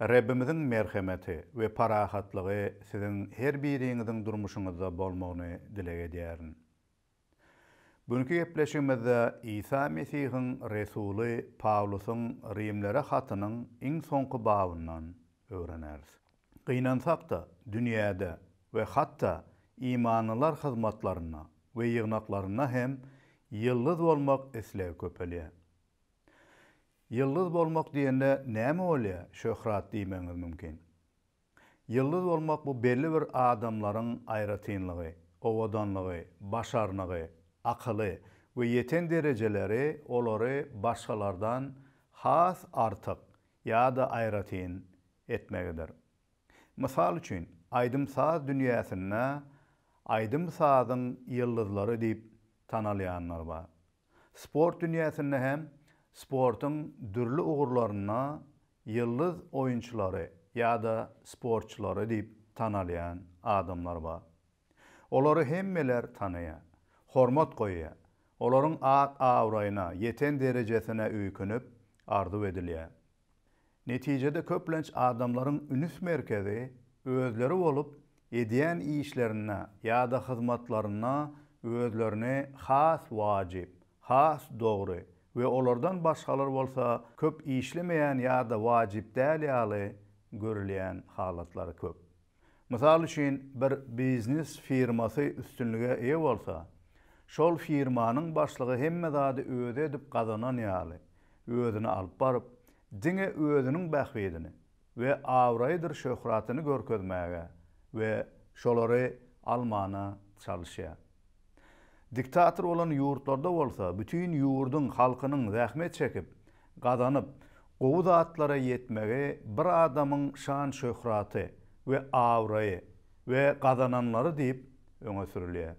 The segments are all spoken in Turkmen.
Rebbimiziň merhemeti we parahatlygy siziň her biriňiziň durmuşyňyzda bolmagyny dileg edýärin. Günki gepleşigimizde Isa Mesihiň resuly Pawlusyň Rimlere hatynyň iň soňky babyndan öwreneris. Gynansakda, dünýäde we hatda imanlylar hyzmatlarynda we ýygnaklarynda hem ýyldyz bolmak islegi köpelýär. Ýyldyz bolmak diýende näme bolýar? Şöhrat diýmegiňiz mümkin. Ýyldyz bolmak bu belli bir adamlaryň aýratynlygy, owadanlygy, başarnygy, akyly we ýeten derejeleri olary başgalardan has artyk ýa-da aýratyn etmegidir. Mysal üçin, aýdym-saz dünýäsinde aýdym-sazyň ýyldyzlary diýip tanalýanlar bar. Sport dünýäsinde hem sportuň dürli ugurlarynda ýyldyz oýunçylary ýa-da sportçylary diýip tanalýan adamlar bar. Olary hemmeler tanaýar, hormat goýýar, olaryň at-abraýyna, ýeten derejesine öýkünip, arzuw edilýär. Netijede köplenç adamlaryň ünüs merkezi özleri bolup, edýän işlerinde ýa-da hyzmatlarynda özlerini has wajyp, has dogry we olardan başgalar bolsa köp işlemeýän ýa-da wajyp däl ýaly görülýän halatlary köp. Mysal üçin, bir biznes firmasy üstünlige eýe bolsa, şol firmanyň başlygy hemme zady özi edip gazanan ýaly, özüni alyp baryp, diňe özüniň bähbidini we abraýydyr şöhratyny görkezmäge we şolary almana çalyşýar. Diktator bolan ýurtlarda bolsa bütin ýurduň halkynyň zähmet çekip, gazanyp, gowy zatlara ýetmegi bir adamyň şan-şöhraty we abraýy we gazananlary diýip öňe sürülýär.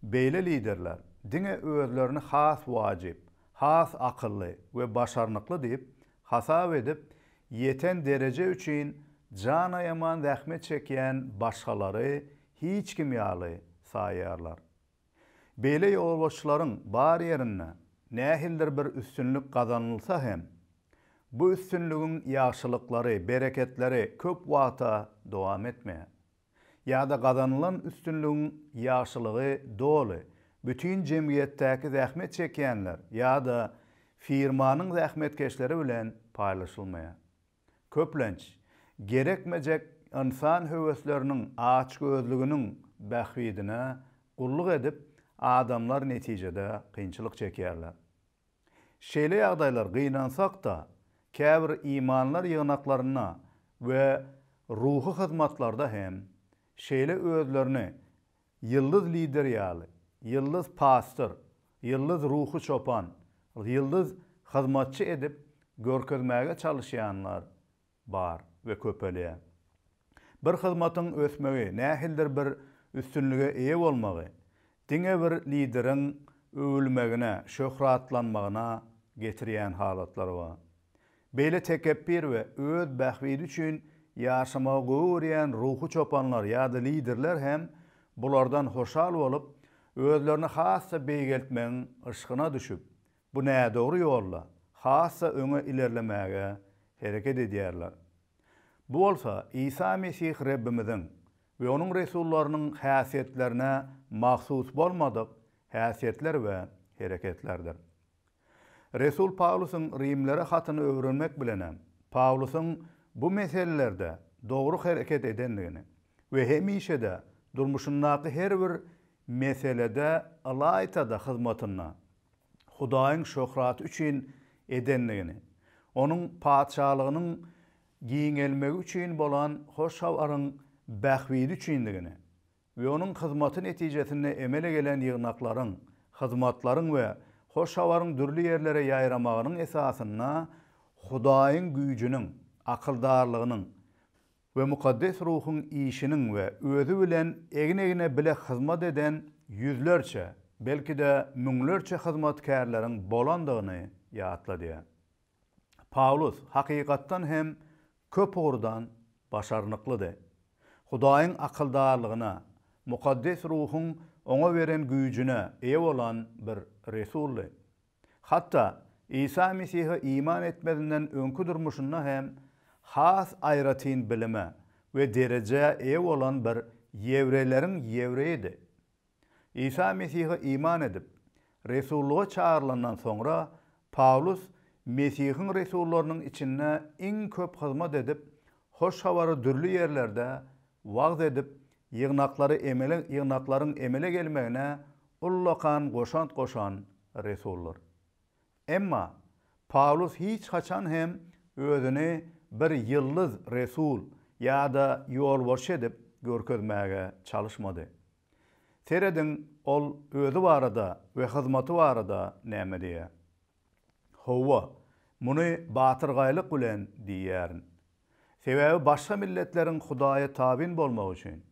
Beýle liderler diňe özlerini has wajyp, has akylly we başarnykly diýip hasap edip, ýeten dereje üçin janaýaman zähmet çekýän başgalary hiç kim ýaly saýýarlar. Beýle ýolbaşçylaryň bar ýerinde nähilidir bir üstünlik gazanylsa hem, bu üstünligiň ýagşylyklary, bereketleri köp wagta dowam etmeýär. Ýa-da gazanylan üstünligiň ýagşylygy doly bütin jemgyýetdäki zähmet çekýänler ýa-da firmanyň zähmetkeşleri bilen paýlaşylmaýar. köplenç, gerekmejek ynsan höwesleriniň açgözlüginiň bähbidine gulluk edip, adamlar netijede kynçylyk çekýärler. Şeýle ýagdaýlar gynansak-da, käbir imanlar ýygnaklarynda we ruhy hyzmatlarda hem şeýle özlerini Ýyldyz lider ýaly, ýyldyz pastyr, ýyldyz ruhy çopan, ýyldyz hyzmatçy edip görkezmäge çalyşýanlar bar we köpelýär. Bir hyzmatyň ösmegi, nähilidir bir üstünlige eýe bolmagy diňe bir lideriň öwülmegine, şöhratlanmagyna getirýän halatlar bar. Beýle tekepbir we öz bähbidi üçin ýaşamagy gowy görýän ruhy çopanlar ýa-da liderler hem bulardan hoşal bolup, özlerini has-da beýgeltmegiň yşkyna düşüp, bu nädogry ýolda has-da öňe ilerlemäge hereket edýärler. Bu bolsa Isa Mesih Rebbimiziň we Onuň resullarynyň häsiýetlerine mahsus bolmadyk häsiýetler we hereketlerdir. Resul Pawlusyň Rimlere hatyny öwrenmek bilenem, Pawlusyň bu meselelerde dogry hereket edendigini we hemişe-de durmuşyndaky her bir meselede ylaýta-da hyzmatyny Hudaýyň şöhraty üçin edendigini, Onuň Patyşalygynyň giňelmegi üçin bolan hoş habaryň bähbidi üçindigini we onuň hyzmaty netijesinde emele gelen ýygnaklaryň, hyzmatlaryň we hoş habaryň dürli ýerlere ýaýramagynyň esasynda Hudaýyň güýjüniň, akyldarlygynyň we mukaddes ruhuň işiniň we Özi bilen egin-egne bile hyzmat eden ýüzlerçe, belki-de, müňlerçe hyzmatkärleriň bolandygyny ýatladýar. Pawlus, hakykatdan hem, köp ugurdan başarnyklydy. Hudaýyň akyldarlygyna, mukaddes ruhuň oňa beren güýjüne eýe bolan bir resuldy. Hatda Isa Mesihe iman etmezinden öňki durmuşynda hem has aýratyn bilime we derejä eýe bolan bir ýewreýleriň ýewreýidi. Isa Mesihe iman edip, resullyga çagyrylandan soňra, Pawlus Mesihiň resullarynyň içinde iň köp hyzmat edip, Hoş Habary dürli ýerlerde wagyz edip, ýygnaklary emele ýygnaklaryň emele gelmegine ullakan goşant goşan resuldyr. Emma, Pawlus hiç haçan hem özüni bir ýyldyz resul ýa-da ýolbaşçy edip görkezmäge çalyşmady. Serediň, ol özi barada we hyzmaty barada näme diýýär. Howwa, muny batyrgaýlyk bilen diýýärin. Sebäbi başga milletleriň Hudaýa tabyn bolmagy üçin,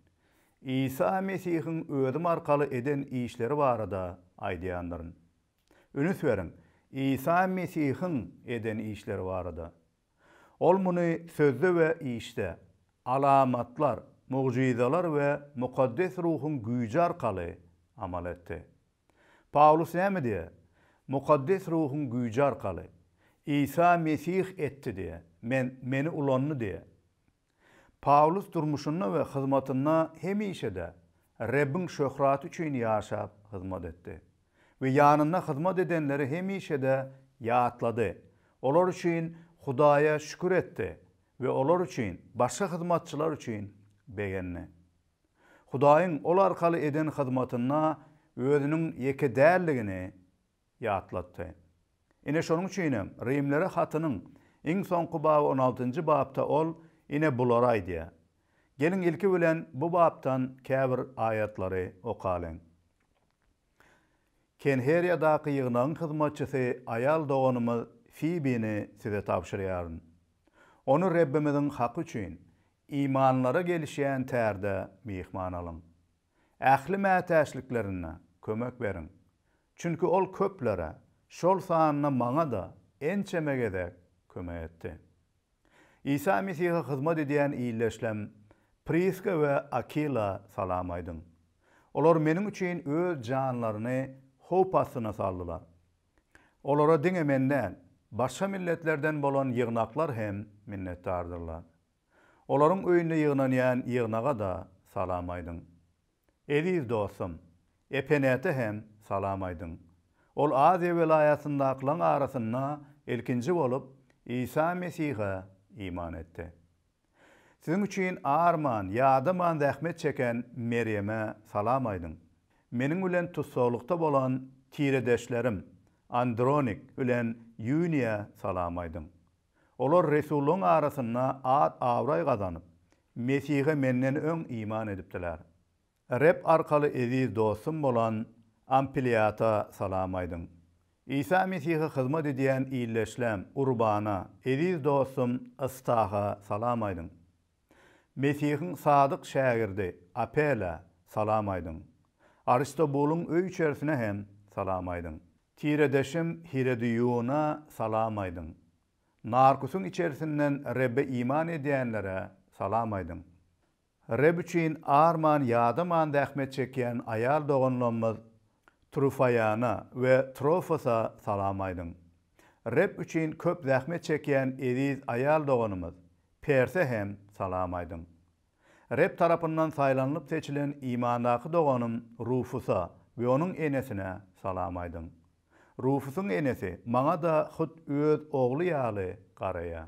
Isa Mesihiň özüm arkaly eden işleri barada aýdýandyryn. Ünüs beriň, Isa Mesihiň eden işleri barada. Ol muny sözde we işde, alamatlar, mugjyzalar we mukaddes ruhuň güýji arkaly amal etdi. Pawlus näme diýýär? Mukaddes ruhuň güýji arkaly. Isa Mesih etdi diýýär. Men, meni ulandy diýýär. Pawlus durmuşynda we hyzmatynda hemişe-de Rebbiň şöhraty üçin ýaşap, hyzmat etdi we ýanynda hyzmat edenleri hemişe-de ýatlady, olar üçin Hudaýa şükür etdi we olar üçin, başga hyzmatçylar üçin begendi. Hudaýyň ol arkaly eden hyzmatynda özüniň ýeke däldigini ýatlatdy. Ine şonuň üçin hem Rimlere hatynyň iň soňky baby on altynjy bapda ol ine bulary aýdýar. Geliň ilki bilen bu bapdan käbir aýatlary okalyň. Kenheriýadaky ýygnagyň hyzmatçysy aýal doganymyz Fibini size tabşyrýaryn. Ony Rebbimiziň haky üçin, imanlara gelişýän tärde myhman alyň. Ähli mätäçliklerinde kömek beriň. Çünki ol köplere, şol sanda maňa-da ençeme gezek kömek etdi. Isa Mesihe hyzmat edýän ildeşlem Priska we Akila salam aýdyň. Olar meniň üçin öz janlaryny howp astyna saldylar. Olara diňe men däl, başga milletlerden bolan ýygnaklar hem minnetdardyrlar. Olaryň öýünde ýygnanýan ýygnaga-da salam aýdyň. Eziz dostum, Epenete hem salam aýdyň. Ol Aziýa welaýatyndakylaň arasynda ilkinji bolup Isa Mesihe iman etdi. Siziň üçin arman, ýadaman zähmet çeken Merýeme salam aýdyň. Meniň bilen tussaglykda bolan tiredeşlerim Andronik bilen Ýuniýa salam aýdyň. Olar resullaryň arasynda at-abraý gazanyp, Mesihe menden öň iman edipdiler. Reb arkaly eziz dostum bolan Ampliýata salam aýdyň. Isa Mesihe hyzmat edýän ildeşlem Urbana, eziz dostum Ystaha salam aýdyň. Mesihiň sadyk şägirdi Apela salam aýdyň. Aristobulyň öý-içerisine hem salam aýdyň. Tiredeşim Hiredýuna salam aýdyň. Narkusyň içerisinden Rebbe iman edýänlere salam aýdyň. Reb üçin arman ýadaman zähmet çekýän aýal doganlarymyz Trufoýana we Trofosa salam aýdyň. Reb üçin köp zähmet çekýän eziz aýal doganymyz Perse hem salam aýdyň. Reb tarapyndan saýlanylyp seçilen imandaky doganym Rufusa we onuň enesine salam aýdyň. Rufusyň enesi maňa-da hut öz ogly ýaly garaýar.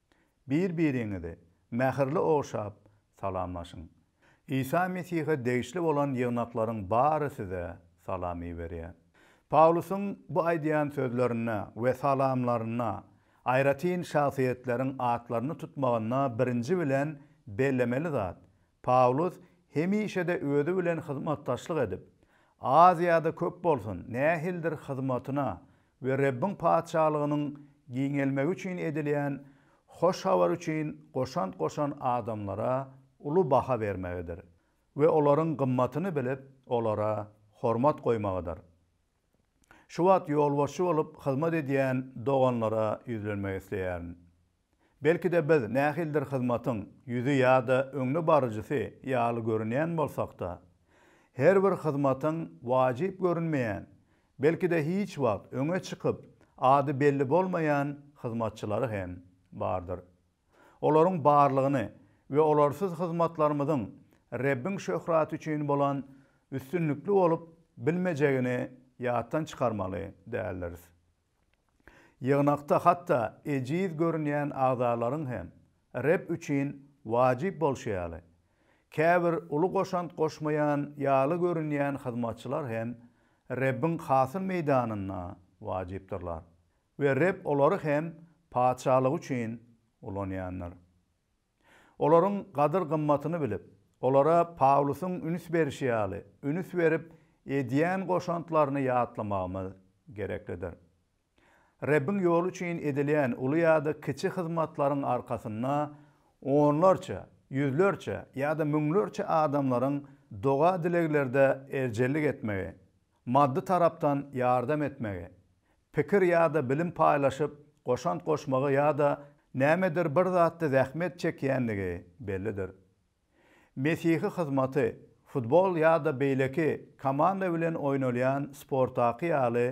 Bir-biriňizi mähirli ogşap salamlaşyň. Isa Mesihe degişli bolan ýygnaklaryň bary size salam iberýär. Pawlusyň bu aýdýan sözlerinde we salamlarynda aýratyn şahsyýetleriň atlaryny tutmagynda birinji bilen bellemeli zat, Pawlus hemişe-de özi bilen hyzmatdaşlyk edip, Aziýada köp bolsun nähildir hyzmatyna we Rebbiň Patyşalygynyň giňelmegi üçin edilýän hoş habar üçin goşant goşan adamlara uly baha bermegidir we olaryň gymmatyny bilip, olara hormat goýmagydyr. Şu wagt ýolbaşçy bolup hyzmat edýän doganlara ýüzlenmek isleýärin. Belki-de biz nähilidir hyzmatyň ýüzi ýa-da öňdebaryjysy ýaly görünýän bolsak-da, her bir hyzmatyň wajyp görünmeýän, belki-de hiç wagt öňe çykyp, ady belli bolmaýan hyzmatçylary hem bardyr. Olaryň barlygyny we olarsyz hyzmatlarymyzyň Rebbiň şöhraty üçin bolan üstünlikli bolup bilmejegini ýatdan çykarmaly däldiris. Ýygnakda hatda ejiz görünýän agzalaryň hem Reb üçin wajyp bolşy ýaly, käbir uly goşant goşmaýan ýaly görünýän hyzmatçylar hem Rebbiň hasyl meýdanynda wajypdyrlar we Reb olary hem Patyşalygy üçin ulanýandyr. Olaryň gadyr-gymmatyny bilip, olara Pawlusyň üns berşi ýaly, üns berip, edýän goşantlaryny ýatlamagymyz gereklidir. Rebbiň ýoly üçin edilýän uly ýa-da kiçi hyzmatlaryň arkasynda onlarça, ýüzlerçe ýa-da müňlerçe adamlaryň doga-dileglerde erjellik etmegi, Maddy tarapdan ýardam etmegi, pikir ýa-da bilim paýlaşyp, goşant goşmagy ýa-da nämedir bir zatda zähmet çekýänligi bellidir. Mesihi hyzmaty, futbol ýa-da beýleki komanda bilen oýnalýan sportdaky ýaly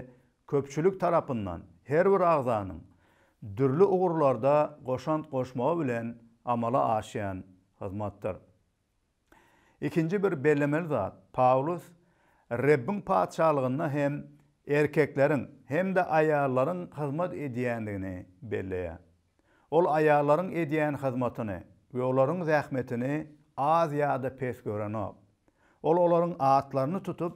köpçülik tarapyndan her bir agzanyň dürli ugurlarda goşant goşmagy bilen amala aşýan hyzmatdyr. Ikinji bir bellemeli zat, Pawlus Rebbiň Patyşalygynda hem erkekleriň hem-de aýallaryň hyzmat edýändigini belleýär. Ol aýallaryň edýän hyzmatyny we olaryň zähmetini az ýa-da pes görenok. Ol olaryň atlaryny tutup,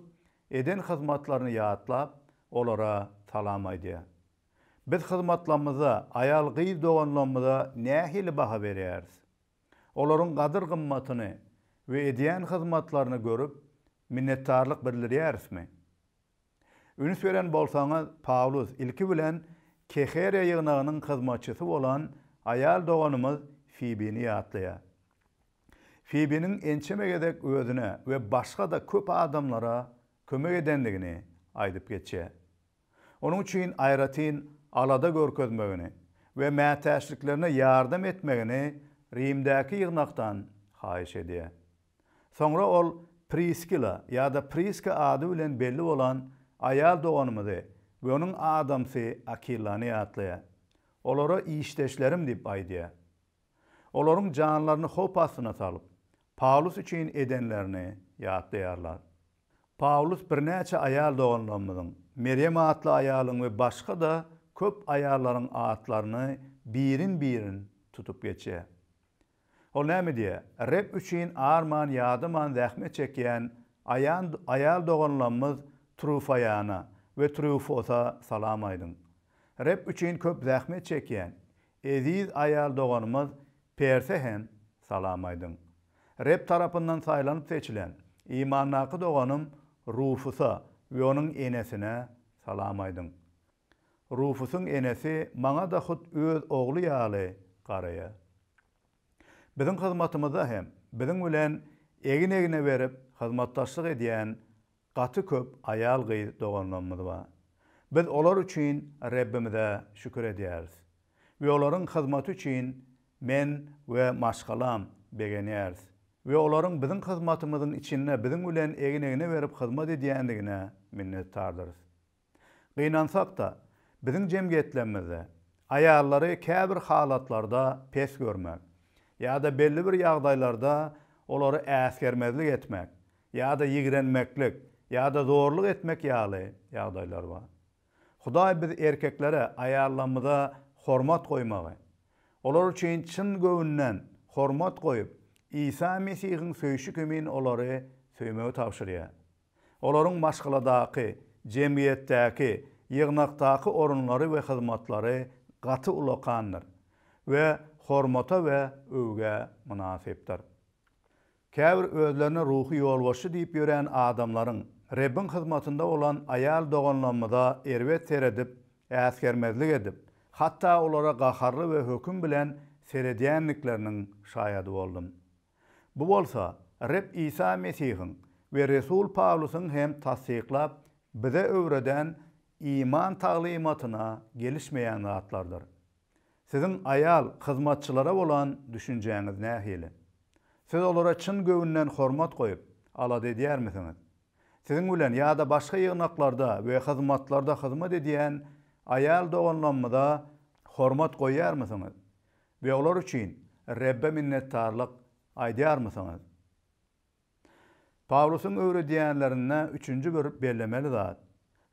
eden hyzmatlaryny ýatlap, olara salam aýdýar. Biz hyzmatlamyza, aýal-gyz doganlamyza nähili baha berýäris? olaryň gadyr-gymmatyny we edýän hyzmatlaryny görüp, minnetdarlyk bildirýärismi? Üns beren bolsaňyz, Pawlus ilki bilen Keheriýa ýygnagynyň hyzmatçysy bolan aýal doganymyz Fibini ýatlaýar. Fibiniň ençeme gezek özüne we başga-da köp adamlara kömek edendigini aýdyp geçýär. Onuň üçin aýratyn alada görkezmegini we mätäçliklerine ýardam etmegini Rimdäki ýygnakdan haýyş edýär. Soňra ol Priskila ýa-da Priska ady bilen belli bolan aýal doganymyzy we onuň adamsy Akilany ýatlaýar. Olara işdeşlerim diýip aýdýar. olaryň janlaryny howp astyna salyp, Pawlus üçin edenlerini ýatlaýarlar. Pawlus birnäçe aýal doganlarymyzyň, Merýem atly aýalyň we başga-da köp aýallaryň atlaryny birin-birin tutup geçýär. Ol näme diýýär? Reb üçin arman-ýadaman zähmet çekýän aýal doganlarymyz Trufaýana we Trýufosa salam aýdyň. Reb üçin köp zähmet çekýän, Eziz aýal doganymyz Perse hem salam aýdyň. Reb tarapyndan saýlanyp seçilen, imandaky doganym Rufusa we onuň enesine salam aýdyň. Rufusyň enesi maňa-da hut öz ogly ýaly garaýar. Biziň hyzmatymyzda hem biziň bilen egin-egne berip hyzmatdaşlyk edýän Gaty köp aýal-gyz doganlarymyz bar. Biz olar üçin Rebbimize şükür edýäris we olaryň hyzmaty üçin men we maşgalam begenýäris we olaryň biziň hyzmatymyzyň içinde biziň bilen egin-egne berip hyzmat edýändigine minnetdardyrys. Gynansak-da, biziň jemgyýetlemizde aýallary käbir halatlarda pes görmek ýa-da belli bir ýagdaýlarda olary äsgermezlik etmek ýa-da ýigrenmeklik ýa-da zorluk etmek ýaly ýagdaýlar bar. Hudaý biz erkeklere aýallarymyza hormat goýmagy, olar üçin çyn göwünden hormat goýup, Isa Mesihiň söýşi kimin olary söýmegi tabşyrýar. olaryň maşgaladaky, jemgyýetdäki, ýygnakdaky orunlary we hyzmatlary gaty ulakandyr we hormata we öwgä mynasypdyr. Käbir özlerine ruhy ýolbaşçy diýip ýörän adamlaryň Rebbiň hyzmatynda bolan aýal doganlamyza erbet seredip, äsgermezlik edip, hatda olara gaharly we höküm bilen seredýändikleriniň şaýady boldum. Bu bolsa Reb Isa Mesihiň we resul Pawlusyň hem tassyklap bize öwreden iman taglymatyna gelişmeýän zatlardyr. Siziň aýal hyzmatçylara bolan düşünjäňiz nähili? Siz olara çyn göwünden hormat goýup, alada edýärmisiňiz? Siziň bilen ýa-da başga ýygnaklarda we hyzmatlarda hyzmat edýän aýal doganlamyza hormat goýýarmysyňyz? We olar üçin Rebbe minnetdarlyk aýdýarmysyňyz? Pawlusyň öwredýänlerinde üçünji bir bellemeli zat,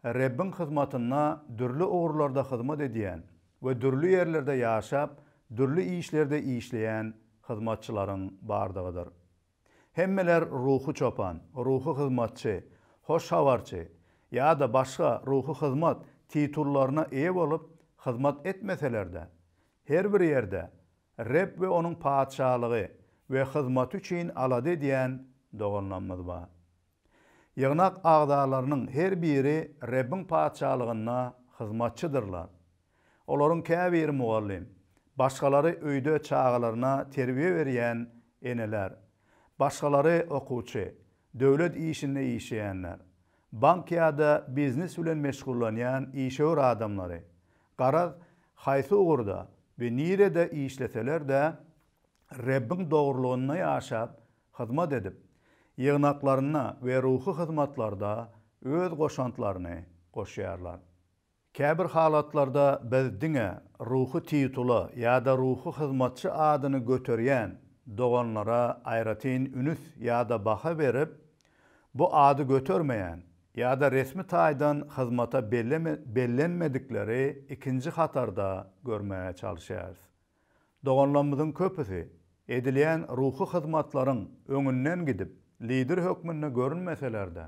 Rebbiň hyzmatynda dürli ugurlarda hyzmat edýän we dürli ýerlerde ýaşap, dürli işlerde işleýän hyzmatçylaryň bardygydyr. Hemmeler ruhy çopan, ruhy hyzmatçy, hoş habarçy ýa-da başga ruhy hyzmat titullaryna eýe bolup hyzmat etmeseler-de, her bir ýerde Reb we Onuň Patyşalygy we hyzmaty üçin alada edýän doganlarymyz bar. Ýygnak agzalarynyň her biri Rebbiň Patyşalygynda hyzmatçydyrlar. Olaryň käbiri mugallym, başgalary öýde çagalaryna terbiýe berýän eneler, başgalary okuwçy, döwlet işinde işleýänler, bank ýa-da biznes bilen meşgullanýan işewür adamlary, garaz, haýsy ugurda we nirede işleseler-de, Rebbiň dogrulygynda ýaşap, hyzmat edip, ýygnaklarynda we ruhy hyzmatlarda öz goşantlaryny goşýarlar. Käbir halatlarda biz diňe ruhy titula ýa-da ruhy hyzmatçy adyny göterýän doganlara aýratyn ünüs ýa-da baha berip, bu ady götermeýän ýa-da resmi taýdan hyzmata bellenmedikleri ikinji hatarda görmäge çalyşýarys. Doganlarymyzyň köpüsi edilýän ruhy hyzmatlaryň öňünden gidip, lider hökmünde görünmeseler-de,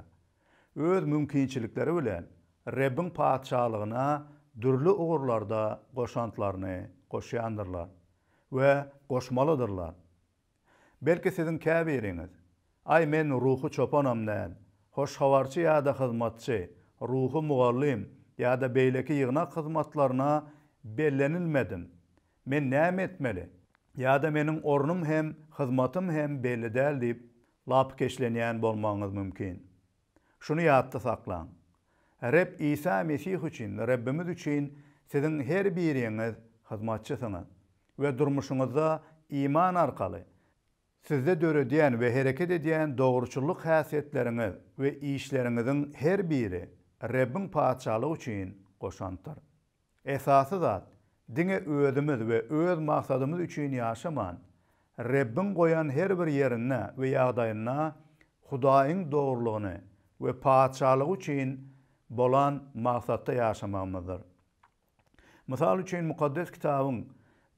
öz mümkinçilikleri bilen Rebbiň Patyşalygyna dürli ugurlarda goşantlaryny goşýandyrlar we goşmalydyrlar. Belki siziň käbiriňiz, Aý, men ruhy çopanam däl, hoş habarçy ýa-da hyzmatçy, ruhy mugallym ýa-da beýleki ýygnak hyzmatlaryna bellenilmedim. Men näme etmeli? Ýa-da meniň ornum hem, hyzmatym hem belli däl diýip, lapykeçlenýän bolmagyňyz mümkin. Şuny ýatda saklaň, Reb Isa Mesih üçin, Rebbimiz üçin siziň her biriňiz hyzmatçysyňyz we durmuşyňyzda iman arkaly sizde döredýän we hereket edýän dogruçyllyk häsiýetleriňiz we işleriňiziň her biri Rebbiň Patyşalygy üçin goşantdyr. Esasy zat, diňe özümiz we öz maksadymyz üçin ýaşaman, Rebbiň goýan her bir ýerinde we ýagdaýynda Hudaýyň dogrulygyny we Patyşalygy üçin bolan maksatda ýaşamagymyzdyr. Mysal üçin, Mukaddes Kitabyň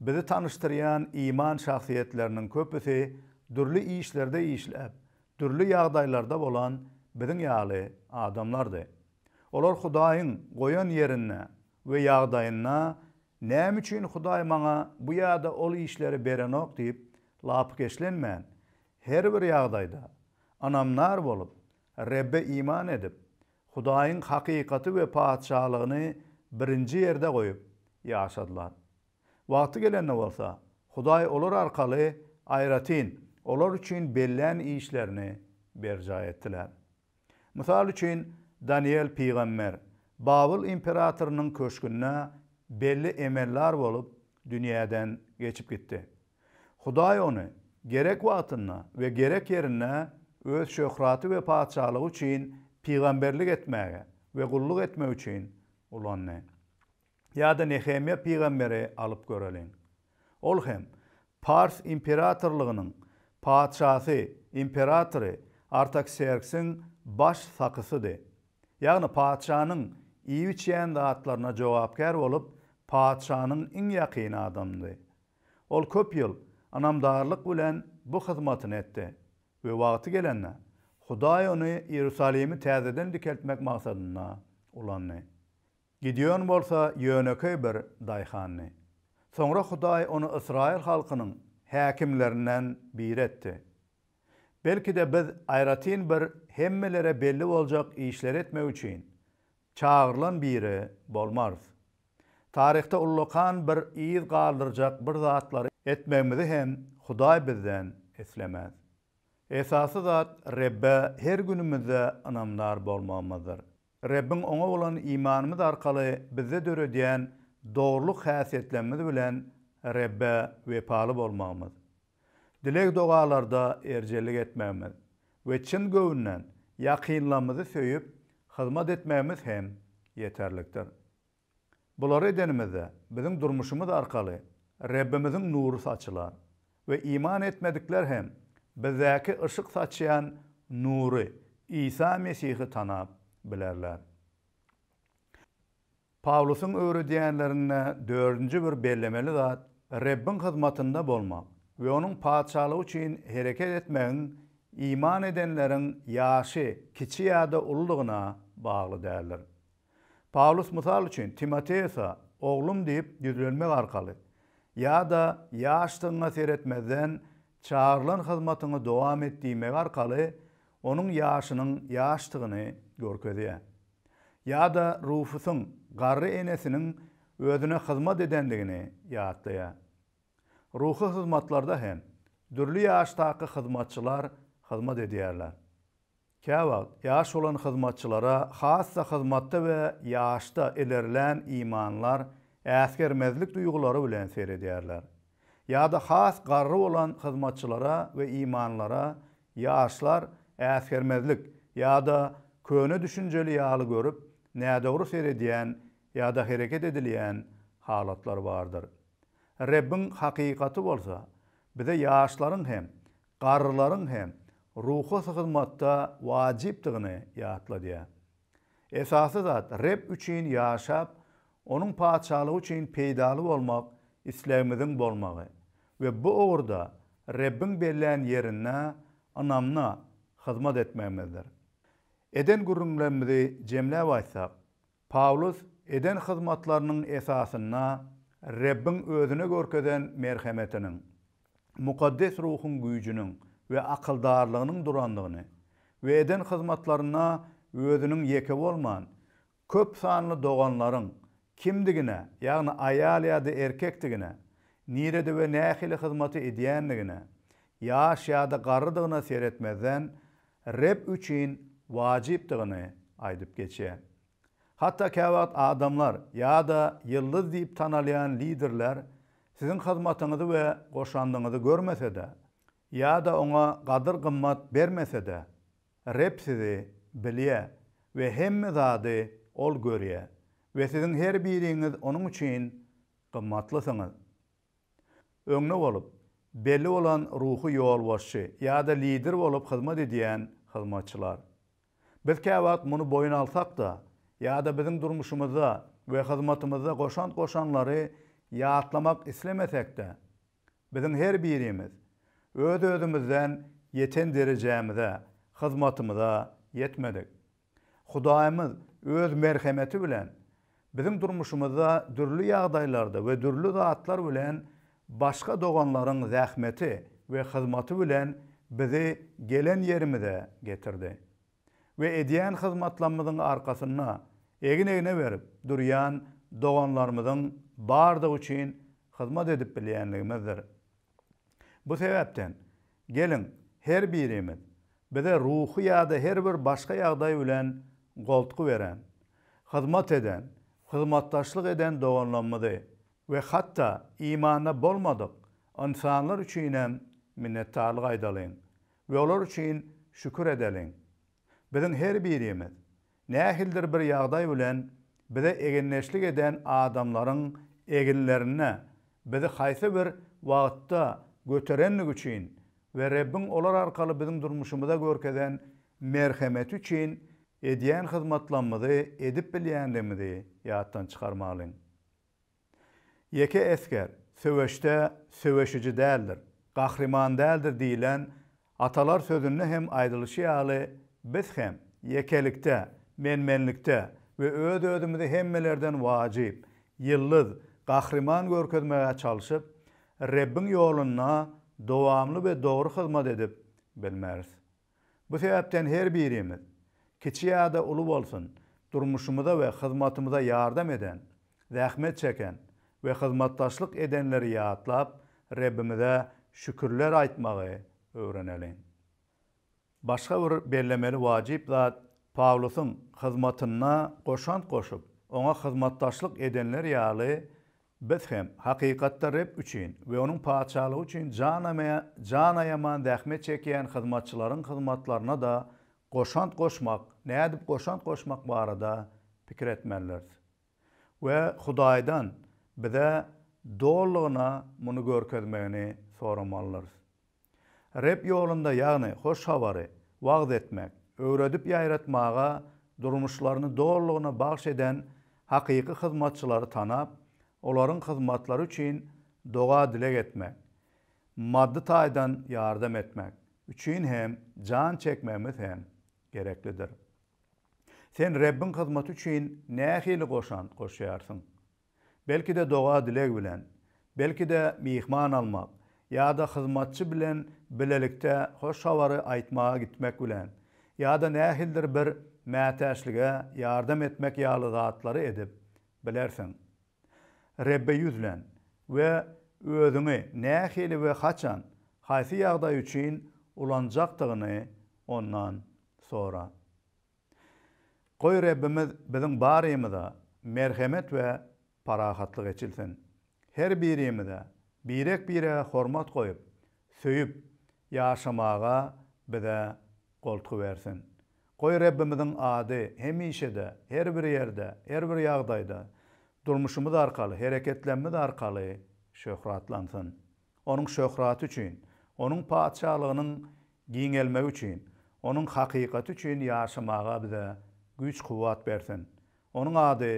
bizi tanyşdyrýan iman şahsyýetleriniň köpüsi dürli işlerde işläp, dürli ýagdaýlarda bolan biziň ýaly adamlardy. Olar Hudaýyň goýan ýerinde we ýagdaýynda Näme üçin Hudaý maňa bu ýa-da ol işleri berenok diýip lapykeçlenmän, her bir ýagdaýda ynamdar bolup, Rebbe iman edip, Hudaýyň hakykaty we Patyşalygyny birinji ýerde goýup ýaşadylar. Wagty gelende bolsa, Hudaý olar arkaly aýratyn olar üçin bellän işlerini berjaý etdiler. Mysal üçin, Danyýel pygamber Babyl imperatorynyň köşgünde belli emellar bolup dünýäden geçip gitdi. Hudaý ony gerek wagtynda we gerek ýerinde Öz şöhraty we Patyşalygy üçin pygamberlik etmäge we gulluk etmek üçin ulandy. ýa-da Nehemýa pygamberi alyp göreliň. Ol hem Pars imperatorlygynyň patyşasy, imperatory, Artakserksiň baş sakysydy. Ýagny patyşanyň iýip-içýän zatlaryna jogapkär bolup, patyşanyň iň ýakyn adamdy. Ol köp ýyl ynamdarlyk bilen bu hyzmatyny etdi we wagty gelende, Hudaý ony Iýerusalimi täzeden dikeltmek maksadynda ulandy. Gideon bolsa ýönekeý bir daýhandy. Soňra Hudaý ony ysraýyl halkynyň häkimlerinden biri etdi. Belki-de biz aýratyn bir hemmelere belli boljak işleri etmek üçin çagyrylan biri bolmarys. Taryhda ullakan bir yz galdyrjak bir zatlary etmegimizi hem Hudaý bizden islemez. Esasy zat Rebbe her günümizde ynamdar bolmagymyzdyr. Rebbiň Oňa bolan imanymyz arkaly bizde döredýän dogrulyk häsiýetlerimiz bilen Rebbe wepaly bolmagymyz, dileg-dogalarda erjellik etmegimiz we çyn göwünden ýakynlarymyzy söýüp, hyzmat etmegimiz hem ýeterlikdir. Bulary edenimizde, biziň durmuşymyz arkaly Rebbimiziň nury saçylar we iman etmedikler hem bizdäki yşyk saçýan nury, Isa Mesihi tanap bilerler. Pawlusyň öwredýänlerinde dördünji bir bellemeli zat Rebbiň hyzmatynda bolmak we Onuň Patyşalygy üçin hereket etmegiň iman edenleriň ýaşy kiçi ýa-da uludygyna bagly däldir. Pawlus mysal üçin Timoteosa oglum diýip ýüzlenmek arkaly ýa-da ýaşdygyňa seretmezden çagyrylan hyzmatyňy dowam et diýmegi arkaly onuň ýaşynyň ýaşdygyny görkezýär. Ýa-da Rufusyň garry enesiniň özüne hyzmat edendigini ýatlaýar. Ruhy hyzmatlarda hem dürli ýaşdaky hyzmatçylar hyzmat edýärler. Käwagt, ýaş bolan hyzmatçylara has-da hyzmatda we ýaşda ilerlän imanlar äsgermezlik duýgulary bilen seredýärler. Ýa-da has garry bolan hyzmatçylara we imanlara ýaşlar äsgermezlik ýa-da köne düşünjeli ýaly görüp, nädogry seredýän ýa-da hereket edilýän halatlar bardyr. Rebbiň hakykaty bolsa, bize ýaşlaryň hem garrylaryň hem ruhy hyzmatda wajypdygyny ýatladýar. Esasy zat, Reb üçin ýaşap, Onuň Patyşalygy üçin peýdaly bolmak islegimiziň bolmagy we bu ugurda Rebbiň bellän ýerinde ynamly hyzmat etmegimizdir. Eden gürrüňlerimizi jemläp aýtsak, Pawlus eden hyzmatlarynyň esasynda Rebbiň özüne görkezen merhemetiniň, mukaddes ruhuň güýjüniň we akyldarlygynyň durandygyny we eden hyzmatlarynda özüniň ýeke bolman, köp sanly doganlaryň kimdigine, ýagny aýal ýa-da erkekdigine, nirede we nähili hyzmaty edýändigine, ýaş ýa-da garrydygyna seretmezden, Reb üçin wajypdygyny aýdyp geçýär. Hatda käwagt adamlar ýa-da ýyldyz diýip tanalýan liderler siziň hyzmatyňyzy we goşandyňyzy görmese-de, ýa-da oňa gadyr-gymmat bermese-de, Reb sizi bilýär we hemme zady Ol görýär we siziň her biriňiz Onuň üçin gymmatlysyňyz. Öňde bolup, belli bolan ruhy ýolbaşçy ýa-da lider bolup hyzmat edýän hyzmatçylar. Biz käwagt muny boýun alsak-da, ýa-da biziň durmuşymyzda we hyzmatymyzda goşant goşanlary ýatlamak islemesek-de, biziň her birimiz öz-özümizden ýeten derejämize, hyzmatymyza ýetmedik. Hudaýymyz Öz merhemeti bilen biziň durmuşymyzda dürli ýagdaýlarda we dürli zatlar bilen başga doganlaryň zähmeti we hyzmaty bilen bizi gelen ýerimize getirdi. We edýän hyzmatlamyzyň arkasynda egin-egne berip durýan doganlarymyzyň bardygy üçin hyzmat edip bilýänligimizdir. Bu sebäpden, geliň, her birimiz, bize ruhy ýa-da her bir başga ýagdaý bilen goltgy beren, hyzmat eden, hyzmatdaşlyk eden doganlarymyzy we hatda imanda bolmadyk ynsanlar üçinem minnetdarlyk aýdalyň we olar üçin şükür edeliň. Biziň her birimiz Nähildir bir ýagdaý bilen bize egindeşlik eden adamlaryň eginlerine bizi haýsy bir wagtda göterendigi üçin we Rebbiň olar arkaly biziň durmuşymyza görkezen merhemeti üçin edýän hyzmatlamyzy edip bilýändigimizi ýatdan çykarmalyň. Ýeke esger söweşde söweşiji däldir, gahryman däldir diýlen atalar sözünde hem aýdylyşy ýaly biz hem ýekelikde, men-menlikde we öz-özümizi hemmelerden wajyp, ýyldyz, gahryman görkezmegä çalşyp, Rebbiň ýolunda dowamly we dogry hyzmat edip bilmeris. Bu sebäpden her birimiz, kiçi ýa-da uly bolsun, durmuşymyza we hyzmatymyza ýardam eden, zähmet çeken we hyzmatdaşlyk edenleri ýatlap, Rebbimize şükürler aýtmagy öwreneliň. Başga bir bellemeli wajyp zat, Pawlusyň hyzmatyna goşant goşup, oňa hyzmatdaşlyk edenler ýaly Biz hem, hakykatda, Reb üçin we Onuň Patyşalygy üçin jan aýaman zähmet çekýän hyzmatçylaryň hyzmatlaryna-da goşant goşmak, nädip goşant goşmak barada pikir etmelidiris. We Hudaýdan bize dolulygyna muny görkezmegini soramalydyrys. Reb ýolunda, ýagny Hoş Habary wagyz etmek, öwredip ýaýratmaga durmuşlaryny dolulygyna bagyş eden hakyky hyzmatçylary tanap, olaryň hyzmatlary üçin doga-dileg etmek, maddy taýdan ýardam etmek üçin hem jan çekmegimiz hem gereklidir. Sen Rebbiň hyzmaty üçin nähili goşant goşýarsyň? Belki-de doga-dileg bilen, belki-de myhman almak ýa-da hyzmatçy bilen bilelikde hoş habary aýtmaga gitmek bilen, ýa-da nähilidir bir mätäçlige ýardam etmek ýaly zatlary edip bilersiň. Rebbe ýüzlen we özüňi nähili we haçan, haýsy ýagdaý üçin ulanjakdygyny Ondan sora. Goý Rebbimiz biziň barymyza merhemet we parahatlyk eçilsin. Her birimize birek-birege hormat goýup, söýüp ýaşamaga bize goltgy bersin. Goý Rebbimiziň ady hemişe-de, her bir ýerde, her bir ýagdaýda, durmuşymyz arkaly, hereketlemmiz arkaly şöhratlansyn. Onuň şöhraty üçin, Onuň Patyşalygynyň giňelmegi üçin, Onuň hakykaty üçin ýaşamaga bize güýç-kuwwat bersin. Onuň ady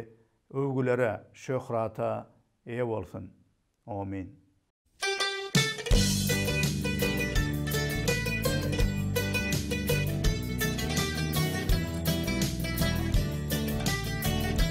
öwgülere, şöhrata eýe bolsun. Omyn.